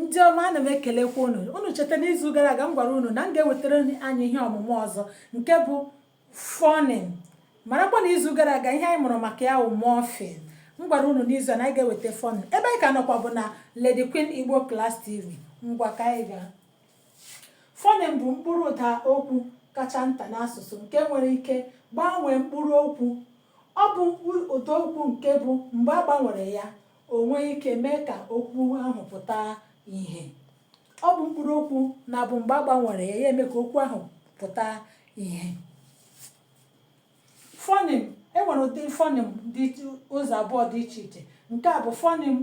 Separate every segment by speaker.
Speaker 1: ndị ọma ana m ekelekwa unu unu cheta n'izu gara aga m gwara unu na m ga-ewetara anyị ihe ọmụmụ ọzọ nke bụ fọnịm marakwa na izu gara aga ihe anyị mụrụ maka ya wụ mọfịm m gwara unu n'izu a na anyị ga-eweta fọnịm ebe anyị ka nọkwa bụ na Lady Queen Igbo Class TV ngwa ka anyị gaa fọnịm bụ mkpụrụ ụda okwu kacha nta n'asụsụ nke nwere ike gbanwee mkpụrụ okwu Ọ bụ ụdaokwu nke bụ mgbe a gbanwere ya o nwee ike mee ka okwu ahụ pụta ihe. Ọ bụ mkpụrụokwu na-abụ mgbe a gbanwere ya ya eme ka okwu ahụ pụta ihe. Fọnịm, e nwere ụdị fọnịm dị ụzọ abụọ dị iche iche. Nke mbụ fọnịm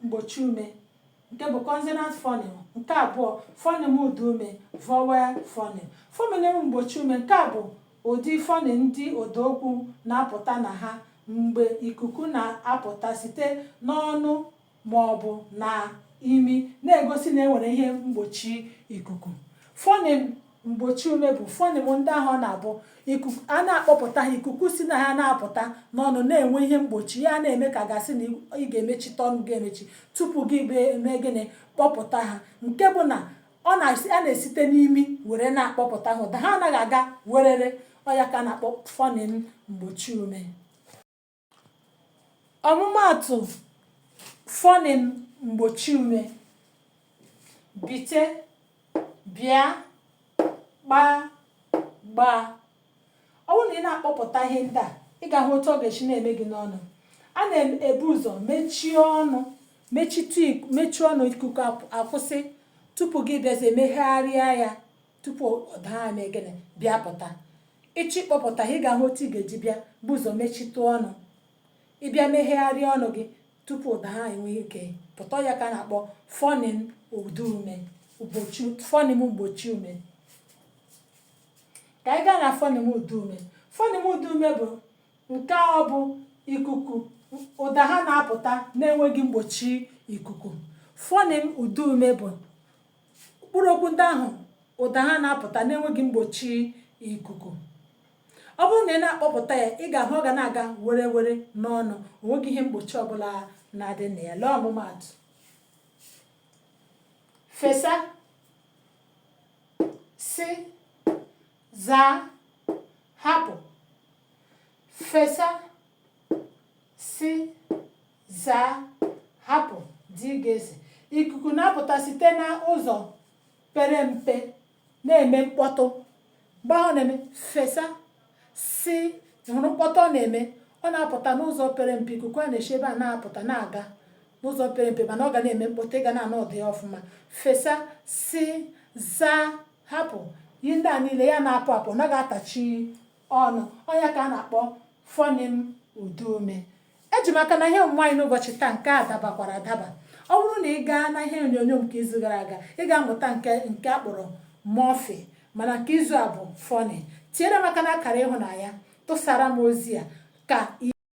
Speaker 1: mgbochi ume nke bụ consonant phoneme nke abụọ phoneme ụda ume vowel phoneme phoneme mgbochi ume nke a bụ ụdị phoneme ndị ụdaokwu na-apụta na ha mgbe ikuku na-apụta site n'ọnụ ma ọ bụ na imi na-egosi na enwere ihe mgbochi ikuku phoneme mgbochi ume bụ fọnịm ndị ahụ ọ na-abụ ikuku a na-akpọpụta ha ikuku si na ha na-apụta n'ọnụ na-enwe ihe mgbochi ya na-eme ka a ga-asị na ị ga-emechitụ ọnụ gị emechi tupu gị eme gịnị kpọpụta ha nke bụ na a na-esite n'imi were na-akpọpụta ha ụda ha anaghị aga werere ọ ya ka a na-akpọ fọnịm mgbochi ume ọmụmaatụ fọnịm mgbochi ume bite bịa gbaa gbaa ọ bụrụ na ị na-akpọpụta ihe ndị a ị ga-ahụ otu ọ ga-esi na-eme gị n'ọnụ a na-ebu ụzọ mechie ọnụ mechie ọnụ ikuku akwụsị tupu gị bịazie megharịa ya tupu ụda ha emee gịnị bịa pụta ị chọọ ịkpọpụta ha ị ga-ahụ otu ị ga-eji bịa buo ụzọ mechitụ ọnụ ị bịa megharịa ọnụ gị tupu ụda ha enwee ike pụta ya ka a na-akpọ fọnịm ụda ume mgbochi fọnịm mgbochi ume ka anyị gaa na fọnịm ụda ume fọnịm ụda ume bụ nke ọ bụ ikuku ụda ha na-apụta na-enweghị mgbochi ikuku fọnịm ụda ume bụ mkpụrụ okwu ndị ahụ ụda ha na-apụta n'enweghị mgbochi ikuku ọ bụrụ na ị na-akpọpụta ya ị ga-ahụ ọ ga na-aga were were n'ọnụ o nweghị ihe mgbochi ọbụla na-adị na ya lee ọmụmaatụ fesa si zaa hapụ fesa si zaa hapụ dgz ikuku na-apụta site na ụzọ pere mpe na-eme mkpọtụ mgbe ahụ na-eme fesa si hụrụ mkpọtụ ọ na-eme ọ na-apụta n'ụzọ pere mpe ikuku a na-esi ebe a na-apụta na-aga n'ụzọ pere mpe mana ọ ga na-eme mkpọtụ ị ga na-anụ ụda ya ọfụma fesa si zaa hapụ ihe ndị a niile ya na-apụ apụ ọ naghị atachi ọnụ ọ ya ka a na-akpọ fọnim ụdaume eji m aka na ihe ọmụmụ anyị n'ụbọchị taa nke a dabakwara adaba ọ bụrụ na ị gaa na ihe onyonyo nke izu gara aga ị ga-amụta nke a kpọrọ mọfịm mana nke izu a bụ fọnim tinyere m aka na akara ịhụnanya tụsara m ozi a ka